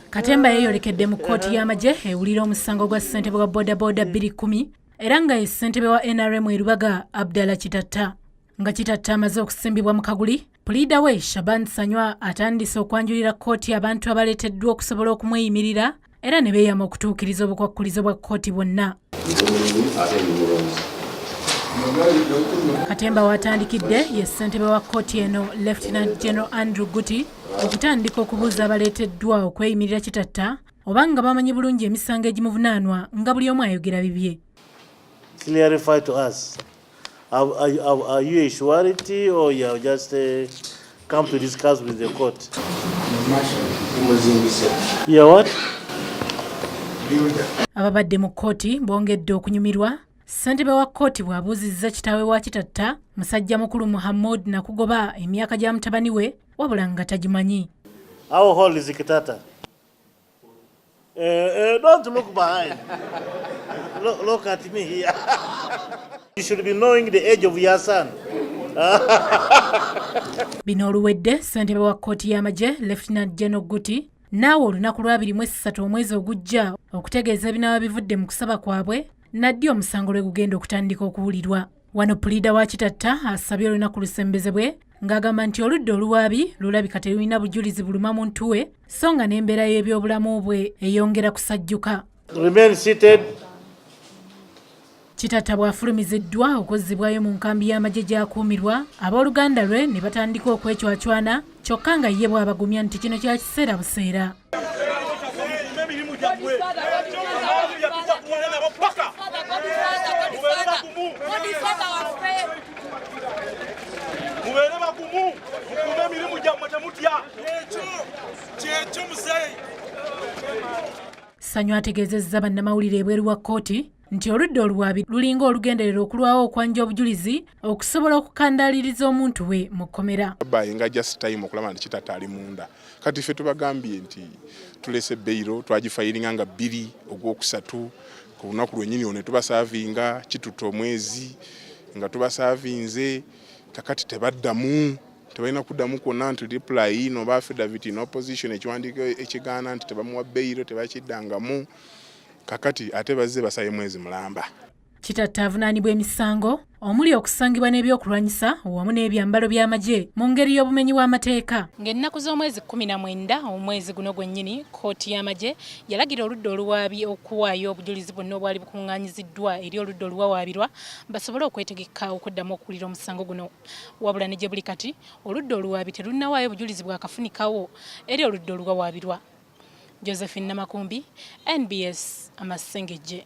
katemba yeeyolekedde mu kkooti y'amagye ewulira omusango gwa ssentebe wa bodaboda 210 era nga ye ssentebe wa nrm erubaga abdala kitatta nga kitatta amaze okusimbibwa mu kaguli puliida we shaban sanywa atandise okwanjulira kkooti abantu abaleeteddwa okusobola okumweyimirira era ne beeyama okutuukiriza obukwakkulizo bwa kkooti bwonna katemba waatandikidde ye ssentebe wa kkooti eno lieutenant general andrew guti okutandika okubuuza abaleeteddwa okweyimirira kitatta oba nga bamanyi bulungi emisango egimuvunaanwa nga buli omu ayogera bibye Have, are, you- have, are you a surety or you have just uh, come to discuss with the court? You are what? ababadde mu kkooti bongedde okunyumirwa ssentebe wa kkooti bw'abuuzizza kitaawe wa kitatta musajja mukulu muhammud nakugoba emyaka gya mutabani we wabula nga tagimanyi How old is Kitata? Eh, eh, don't look behind. look, look at me here. you should be knowing the age of your son. bino oluwedde ssentebe wa kkooti y'amagye lefutinant geno guti naawe olunaku lwabiri mu essatu omwezi ogujja okutegeeza ebinaaba bivudde mu kusaba kwabwe naddi omusango lwe gugenda okutandika okuwulirwa Wano puliida wa Kitatta asabye olunaku lusembezebwe ng'agamba nti oludda oluwaabi lulabika terulina bujulizi buluma muntu we so nga n'embeera y'ebyobulamu bwe eyongera kusajjuka. Kitatta bw'afulumiziddwa okuzzibwayo mu nkambi y'amagye gy'akuumirwa abooluganda lwe ne batandika okwecwacwana kyokka nga ye bw'abagumya nti kino kya kiseera buseera. mubeere bagumu mukuume emirimu gyammwe temutya kyekyo muzeeyi Sanyu ategeezezza bannamawulire ebweru wa kkooti nti oludda oluwaabi lulinga olugenderera okulwawo okwanja obujulizi okusobola okukandaaliriza omuntu we mu kkomera bayinga just time okulaba nti kitata ali munda kati ffe tubagambye nti tulese beyiro twagifayiringa nga bbiri ogwokusatu ku lunaku lwenyini ono tubasaavinga kituta omwezi nga tubasaavinze kakati tebaddamu tebalina kuddamu kwonna nti reply no ba affidavit in opposition ekiwandiiko ekigaana nti tebamuwa beyiro tebakiddangamu kakati ate bazze basaye mwezi mulamba. Kitatta avunaanibwa emisango omuli okusangibwa n'ebyokulwanyisa wamu n'ebyambalo by'amagye mu ngeri y'obumenyi w'amateeka. Ng'ennaku z'omwezi kkumi na mwenda omwezi guno gwennyini, kkooti y'amagye yalagira oludda oluwaabi okuwaayo obujulizi bwonna obwali bukungaanyiziddwa eri oludda oluwawaabirwa basobole okwetegekka okuddamu okuwulira omusango guno. Wabula ne gye buli kati, oludda oluwaabi terunnawaayo bujulizi bwakafunikawo eri oludda oluwawaabirwa. Josephine Namakumbi, NBS Amasengejje.